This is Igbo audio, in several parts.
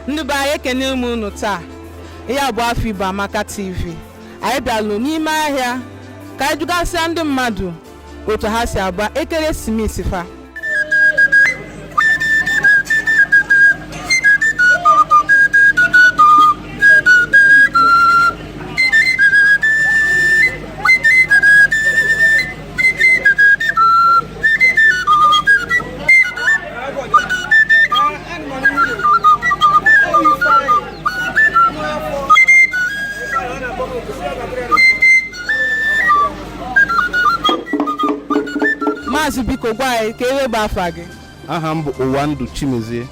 ndị be anyị ekene m unu taa ihe a bụ afọ Igbo Amaka TV anyị bịalụ n'ime ahịa ka anyị jụgasịa ndị mmadụ otu ha si agba ekeresimesi fa maazị biko gwa anyị kee ife bụ afa gị aha m bụ ụwandụ chimezie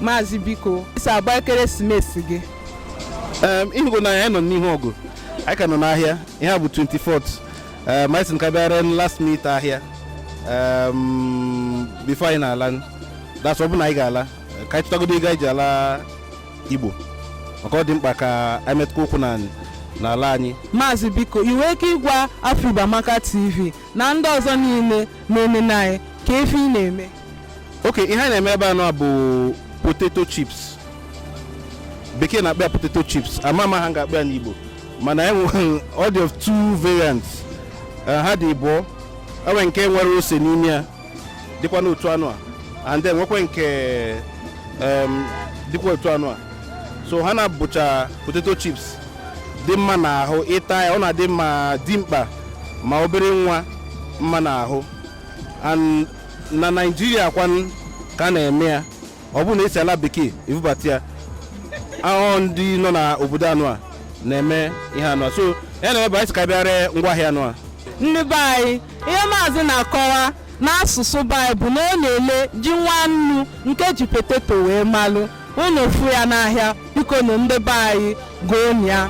maazị biko i si agba ekeresimesi gị ị hụgo na anyị nọ n'ihu ọgụ anyị ka nọ n'ahịa ihe a bụ 24th ma anyị sị ka bịa ree last minute ahịa before anyị na-ala that's ọ bụ na anyị ga-ala ka anyị chụtagodo ego anyị ji ala igbo maka ọ dị mkpa ka anyị metụkwa ụkwụ n'ala anyị maazị biko i nwee ike ịgwa afọ Igbo Amaka TV na ndị ọzọ niile na-enene anyị kee ife ị na-eme okay ihe anyị na-eme ebe anụ a bụ potato chips bekee na-akpọ ya potato chips ama m aha m ga-akpọ ya n'igbo mana e nwere ọ dị of two variants Eh, ha dị ịbụọ e nwee nke nwere ose n'ime ya dịkwa n'otu anụ a and then nwekwa nke em, dịkwa otu anụ a so ha na-abụcha potato chips dị mma n'ahụ ịta ya ọ na-adị ma dimkpa ma obere nwa mma n'ahụ and na naịjirịa kwanụ ka a na-eme ya ọ bụhụ na e si ala bekee ebubata ya ọ bụ ndị nọ na obodo anụ a na-eme ihe anụ a so ya na ebe anyị sị ka anyị bịa ree ngwaahịa anụ a ndị be anyị ihe maazị na-akọwa n'asụsụ be anyị bụ na ọ na-ele ji nwannu nke e ji potato wee malụ unu fụ ya n'ahịa bikonụ ndị be anyị goonụ ya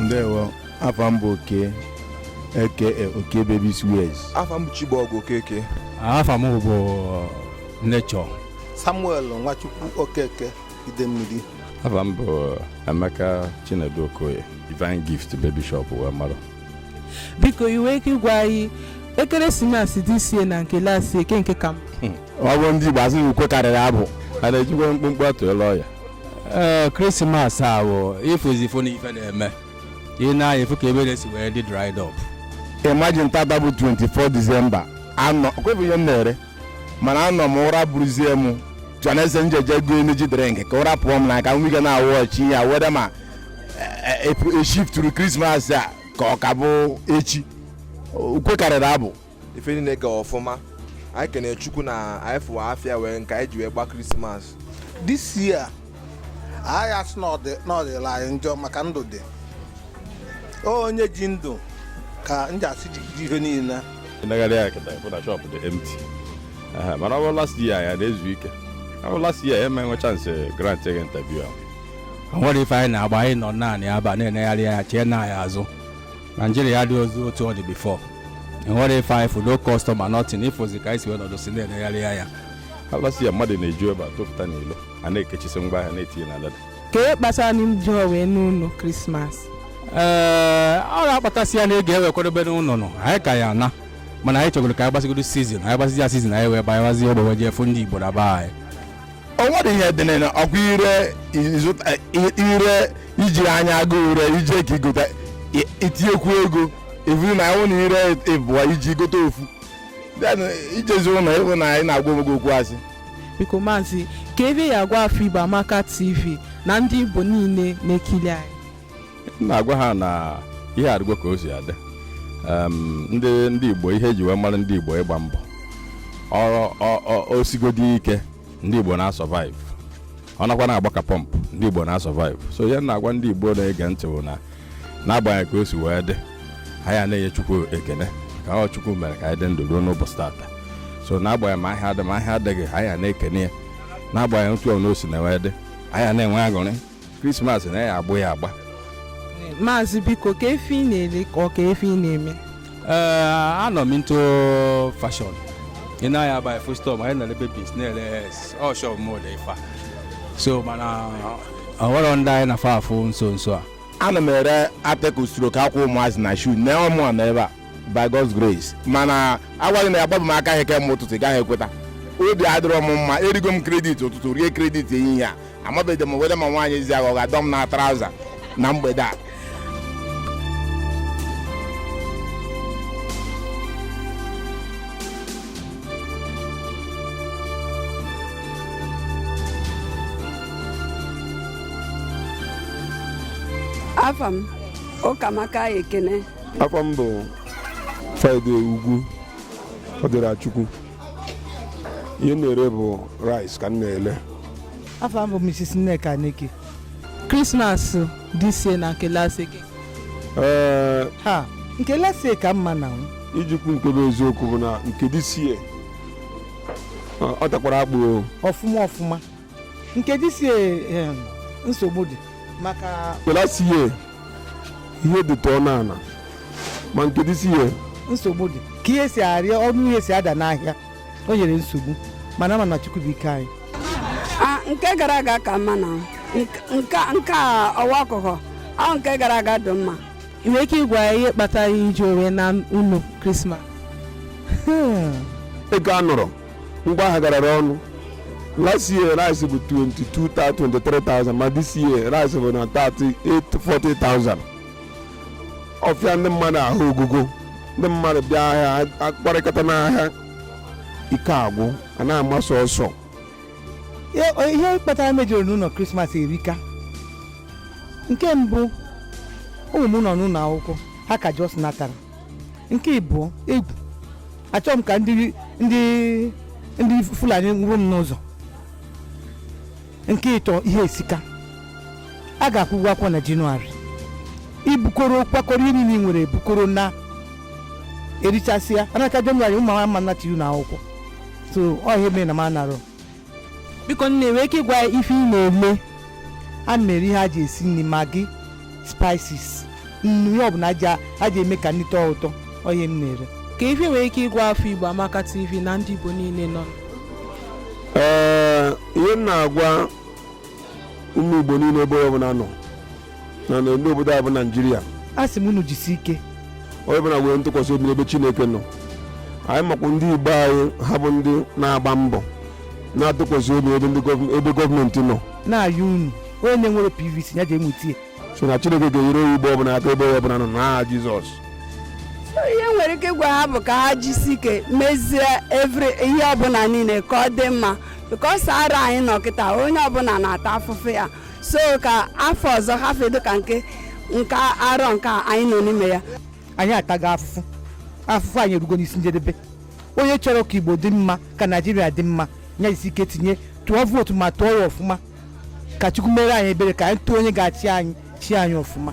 ndewo afa m bụ okeke okey babies wears afa m bụ chibọgụ okeke afa m bụ nature samuel nwachukwu okeke ide mmiri afa m bụ Emeka Chinedu Okoye Divine Gift Baby Shop wee mara biko i nwee ike ịgwa anyị ekeresimesi this year na nke last year kee nke ka mma ọ bụ ndị Igbo asị na ukwe karịrị abụ a na-ejikwa mkpụmkpụ atụ elu ọya ee krismas a bụ ị fụzi ifo na ife na-eme ị nee anya ị fụ ka ebe nine si wee dị dried up imagine tata bụ 24 December anọ kwefu ihe m na-ere mana anọ m ụra buruzie m jọneze m jeje goo energy drink ka ụra pụọ m na ka m ike na-awọchi ya weda ma e shifturu e, e, e krismas a ka ọ ka bụ echi ukwe karịrị abụ ife niile ga ọfụma anyị kene chukwu na anyị fụwa afịa wee nke anyị ji wee gba krismas this year anyị asị na ọ dịla anyị njọ maka ndụ dị onye ji ndụ ka m ji asị jigide ihe niile i negharịa anya kịta ị fụ na shop dị empty Aha, mana ọ bụ last year ya na-ezu ike ọ bụ last year ya ma enwe chansị grant gị interview ahụ o nwerọ ife anyị na-agba anyị nọ naanị aba na-enegharị anya chee na anyị azụ naijiria adịrọzi otu ọ dị bifọ enwerọ ife anyị fụ no kọstọma nọtin ị fụzi ka anyị si wee nọdụsị na-enegharị anya Ha last year mmadụ na-eju ebe a tụpụta n'ilo a na-ekechisi ngwa ahịa na-etinye na leda ka e kpatara na ndị ọ wee n'ụlọ krismas ee ọ ga-akpatasịa na ego e wee kwadobe n'ụlọ nọ anyị ka ya na mana anyị chọgoro ka anyị gbasigodo sizin anyị gbasizi ya sizin anyị wee banyewazi egbe wee jee fụ ndị igbo na be anyị o nwere ihe dị na ọkwa i ree ị zụta i ree i ji anya aga ure i jee ka i gote i- i tinyekwu ego evu na ahụ na i ree ịbụọ i ji gote ofu Then, i jezi ụlọ ị hụ nwaanyị na-agwa onwe gị okwu asị biko maazị kee ife ị ya-agwa afọ igbo amaka tv na ndị igbo niile na-ekili anyị m na-agwa ha na ihe adịghịkwa ka o si adị Em, ndị ndị igbo ihe eji wee mara ndị igbo ịgba mbọ Ọ- ọ- ọ- o sigodi ike ndị igbo na-asurvive ọ nakwa na-agba ka pọmpụ ndị Igbo na-asurvive so ihe m na-agwa ndị Igbo na-ege ntị bụ na n'agbanyeghị ka o si wee dị ha ya na-enye Chukwu ekene ka ọ Chukwu mere ka anyị dị ndụ ruo n'ụbọchị tata so n'agbanyeghị ma ahịa adị ma ahịa adịghị ha ya na-ekene ya n'agbanyeghị otu ọbụna o si wee dị anyị na-enwe aṅụrị krismas na ya agbụ ya agba maazị biko kee ife ị na-ele ka ọ kee ife ị na-eme anọ m into fashion ị na ya by full stop anyị na-ele babies na-ele hes ọ shop m dị ife a. so mana o nwere ndị anyị na fa afụ nso nso a ana m ere article stock akwa ụmụazị na shu na ọ mụa nwe ebe a by God's grace mana a gwa gị na agbabụ m aka ahịa kemgbe ụtụtụ ị gaghị ekweta obi adịrọ m mma erigo m kredit ụtụtụ rie kredit ehihie a amabeghị m weda ma nwaanyị ezi agha ọ ga-adọ m na traụza na mgbede a afa m ụkamaka ekene afa m bụ friday ugwu ọdịrachukwu ihe na-ere bụ rice ka m na-ele afa m bụ mrs nneka neke krismas this year na nke last year ee ha nke last year ka mma na m ijikwu nke bụ eziokwu bụ na nke this year ọ takwara akpụ o ọfụma ọfụma nke this year nsogbu dị maka nke last year ihe dịtụ ọnụ ala ma nke this year nsogbu dị ka ihe si arịa ọnụ ihe si ada n'ahịa o nyere nsogbu mana a ma na chukwu bụ ike anyị Ah, nke gara aga ka mma na nke nke- nke a ọwa ọkụkọ ahụ nke gara aga dị mma ị nwere ike ịgwa anyị ihe kpatara i jirọ wee naa ụlọ krismas ego anọrọ ngwa ahịa garara ọnụ last year rice bụ 22,000 23,000 ma this year rice bụ na 38,000 40,000 ọ fịa ndị mmadụ ahụ ogugo ndị mmadụ bịa ahịa akparịkata n'ahịa ike agwụ a na-amasị ọsọ ihe kpatara m ejirọ naa ụlọ krismas erika nke mbụ ụmụ m nọ n'ụlọ akwụkwọ ha ka just natara nke ịbụọ egwu achọghị m ka ndị ndị ndị fulani nwụrụ m n'ụzọ nke ịtọ ihe esika a ga-akwụ ụgwọ akwụkwọ na jenụwarị i bukọrọ kwakọrọ ihe niile ị nwere bukọrọ naa erichasịa a na-aka jenụwarị ụmụ ama anachi na akwụkwọ so ọ ihe mere na m anarọ biko nne i nwee ike ịgwa anyị ife ị na-eme ana m ere ihe a ji esi nri maggi spices nnu ihe ọbụla a ji eme ka nri tọọ ụtọ ọ ihe m na-ere kee ife i nwere ike ịgwa afọ igbo amaka tv na ndị igbo niile nọ ee ihe m na-agwa ụmụ igbo niile ebe onye ọ bụla nọ na na ndị obodo a bụ naijiria asị m unu jisi ike onye ọbụla nwee ntụkwasị obi n'ebe chineke nọ anyị makwa ndị igbo anyị ha bụ ndị na-agba mbọ na-atụkwasị obi ebe ndị gọọm- ebe gọọmenti nọ na-ayọ unu onye na-enwerọ pvc ya jee nweta ya so na chineke ga-enyere onye igbo ọbụla aka ebe onye ọbụla nọ n'aha jizọs ihe m nwere ike ịgwa ha bụ ka ha jisi ike mezie evri ihe ọbụla niile ka ọ dị mma because arọ anyị nọ kịta onye ọbụla na-ata afụfụ ya so ka afọ ọzọ hafụ ịdị ka nke nke arọ nke a anyị nọ n'ime ya anyị atago afụfụ afụfụ anyị erugo n'isi njedebe onye chọrọ ka igbo dị mma ka naijiria dị mma nya jisi ike tinye tụọ vootu ma tụọ ya ọfụma ka chukwu meere anyị ebere ka anyị tụọ onye ga-achị anyị chịa anyị ọfụma